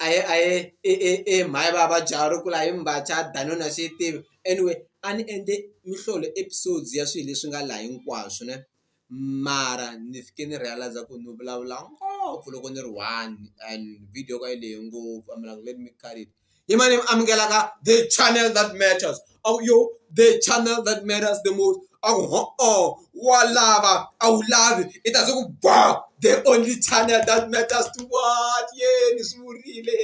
a hi a hi i i i hi mhani va vabya ri kula hi mbhaca danuna xi yi tivi anyway a ni endle mihlolo episodes ya swilo leswi nga laha hinkwaswo ne mara ni fike ni realize ku ni vulavula ngopfu loko ni ri one and video ka yi lehe ngopfu a mi like let me cut it. Imani amukela ka the channel that matters. Oh yo, the channel that matters the most. Oh, oh, wa lava, a wu lavi, i ta ku ba the only channel that matters to what? Yeah, ni swi vurile.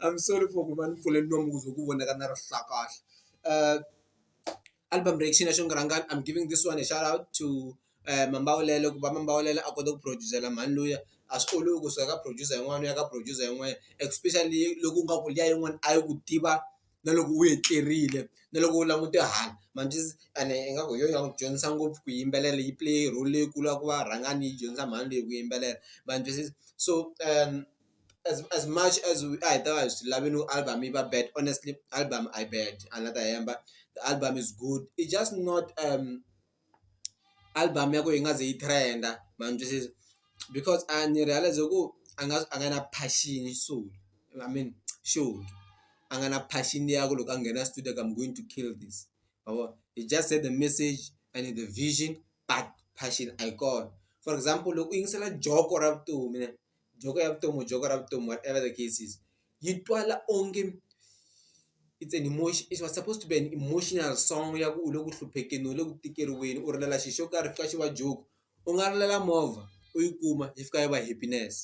I'm sorry for ku va ni pfule nomu ku ze ku vonaka na rihlakahle. Uh, album reaction ya xongorangani i'm giving this one a shout out to mambawulelo ku va mambawulela a kota ku produce-ela mhani luya a swi olovi ku suka ka producer yin'wana u ya ka producer yin'wana especially loko u nga ku liya yin'wana a yi ku tiva na loko u etlerile na loko u langute hala ma swi tivi ene ingaku hi yona yi nga n'wi dyondzisa ngopfu ku yimbelela yi play role leyikulu ya ku va rhangani yi dyondzisa mhani leyi ku yimbelela ma swi twisisa so as as much as we a hi ta va hi swi lavini ku album yi va bad honestly album a yi bad a ni la ta hemba the album is good it just not . album ya ku yi nga ze yi trend-a ma ni twisisa because a ni realize ku a nga a nga na passion so I mean xihundla a nga na passion ya ku loko a nghena studio ku I'm going to kill this ma vo he just had the message and the vision but passion a yi kona for example loko u yingisela joko ra vutomi. joke ya vutomi joke ra vutomi whatever the case is yi twala onge it's an emotion it was supposed to be an emotional song ya ku u le ku hluphekeni u le ku tikeriweni u rilela xilo xo karhi xi fika xi va joke u nga rilela movha u yi kuma yi fika yi va happiness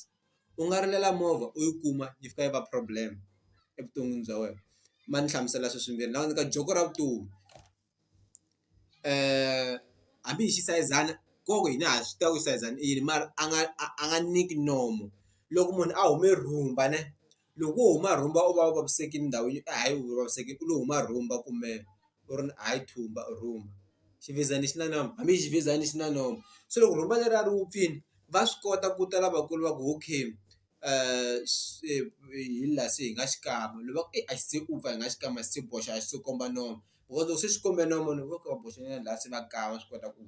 u nga rilela movha u yi kuma yi fika yi va problem evuton'wini bya wena ma ni hlamusela sweswimbirhi ni nga ku nyika joke ra vutomi. hambi hi xisayizana ko ku hina ha swi tiva ku xisayizana i yini mara a nga a a nga nyiki nomu loko munhu a hume rhumba ne loko wo huma rhumba u va u vavisekile ndhawini a hi u vavisekile u lo huma rhumba kumbe u ri a hi thumba or rhumba ximfezani xi na nomu hambi xi ximfezani xi na nomu se loko rhumba leriya ri wupfile va swi kota ku ta lavakulu va ku okay. se hi la se hi nga xikan'we ni va ku a xi se u pfa hi nga xikan'we a xi se boxa a xi se komba nomu because loko se xi kombe nomu ni va ku va boxe nyana la se va kan'we swi kota ku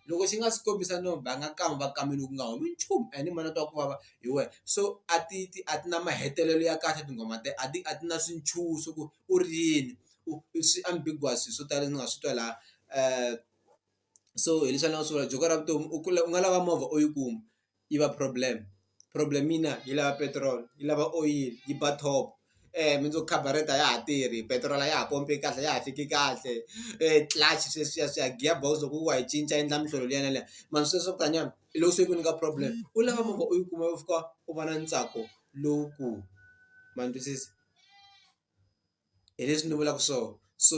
loko xi nga si kombisa nomu va nga kan'we va kambe loku nga humi nchumu a ni ma na twa ku vava hi wena so a ti ti a ti na mahetelelo ya kahle tinghoma te a ti a ti na swintshuxo ku u ri yini u swi ambiguous swo tala ni nga swi twa la so hileswi a ni nga swi vula Joko ra vutomi u kula u nga lava movha u yi kuma. yi va problem problem yi na yi lava petrol yi lava oyili yi ba top mundzuku carburetor a ya ha tirhi petrol a ya ha pompi kahle a ya ha fiki kahle clutch sweswiya swiya gear box loko wo wa yi cinca endla minhlolo liya na liya mara sweswo swa ku tani hi loko se yi ku nyika problem u lava movha u yi kuma u fika u va na ntsako lowukulu ma ni twisisa hi leswi ni vulaka swona so.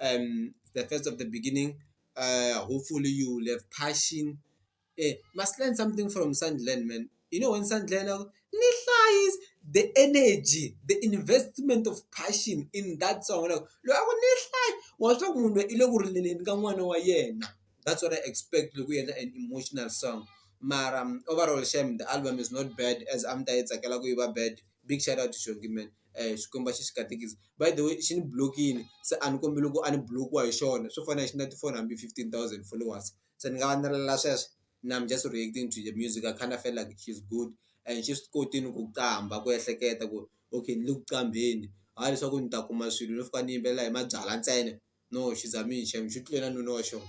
um the first of the beginning uh hopefully you will have passion eh must learn something from Sandland man you know when Sandland uh, ni hlayis the energy the investment of passion in that song like loyi a ku ni hlayi wa swa ku munhu i le ku rileleni ka n'wana wa yena that's what i expect loko yendla an emotional song mara um, overall shame the album is not bad as am ta yi tsakela ku yi va bad big shout out to shongi man Xikwembu a xi xi katekisa by the way xi ni blokini se a ni kombela loko a ni block-iwa hi xona swo fana xi na ti-phone hambi fifteen thousand followers se ni nga va ni rilela sweswo now I'm just reacting to the music I kinda felt like she's good and xi swi kotini ku qambha ku ehleketa ku okay ni le ku qambheni hayi leswaku ni ta kuma swilo no fika ni yimbelela hi mabyalwa ntsena no she's amazing shame xi tlule na nuna wa xona.